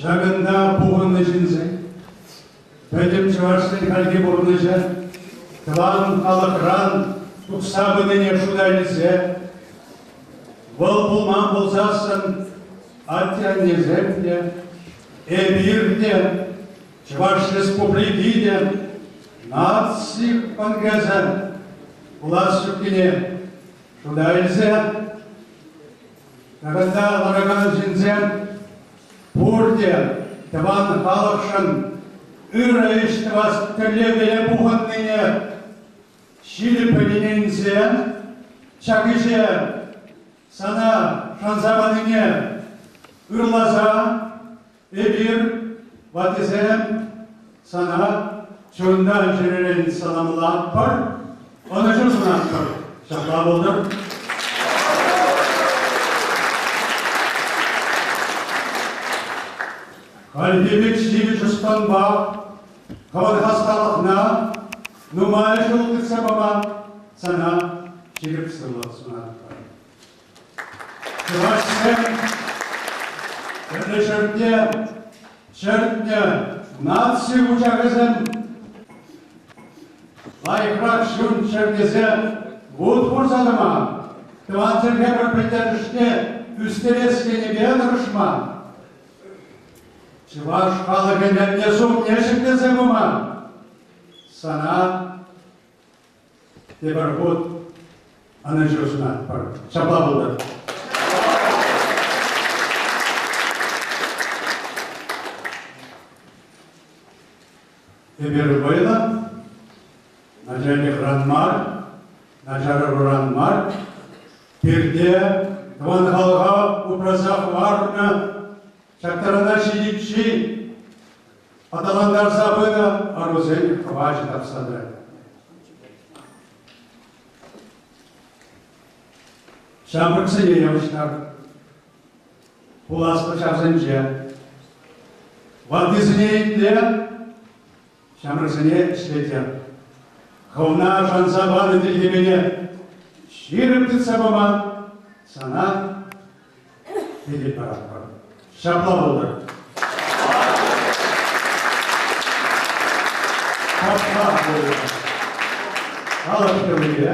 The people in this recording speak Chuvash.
Ҫакӑнта пухӑннӑ ҫынсен, пӗтӗм чӑвашсен хальхи пурнӑҫӗ тӑван халӑхран тухса пынине шута илсе вӑл пулман пулсассӑн атте-аннесем те, эпир те, Чӑваш Республики те наци конгресӗ пулас ҫуккине шута илсе Тӑвӑлса ларакан ҫынсем пурте тӑван халӑхшӑн ырӑ ӗҫ тӑвас тӗллевпеле пухӑннине ҫирӗппӗн ӗненсе ҫак ӗҫе сана шанса панине ырласа Эпир, ваттисем, сана чунтан чӗререн саламлатпӑр, ӑнӑҫу сунатпӑр. Ҫапла пултӑр. Хальхи пек ҫивӗч ӑспанпа хӑвӑр хасталӑхна нумай ҫул кӗтсе пама сана ҫирӗп сывлӑх сунатпӑр. Чӑвашсем пӗрлешӗвне чӗртнӗ наци вучахӗсем лайӑхрах ҫын ҫӗртесе вут хурса тӑман, тӑван чӗлхе пӗр пӗлтерӗшне ӳстерес енӗпе тӑрӑшман. Чӑваш халӑх ӗнерне сумне ҫӗклесе пыман. Сана Тепӗр хут ӑнӑҫу сунатпӑр. Ҫапла пултӑр. Эпир вӑйлӑ, начальникран мар, начарӑвран мар, пирте тӑван халӑха упраса хӑварнӑ Ҫактарана ҫитиччен аталантарса пынӑ ӑрусен хӑвачӗ тапса тӑрать. Ҫамрӑксене явӑҫтар. Пуласлӑх ҫавсенче. Ваттисене итле, ҫамрӑксене ӗҫлетӗр. Хӑвна шанса панӑ тилхепене ҫирӗп тытса пама сана хитре паратпӑр. Ҫапла пултӑр. Ҫапла пултӑр. Халӑх йӑлипе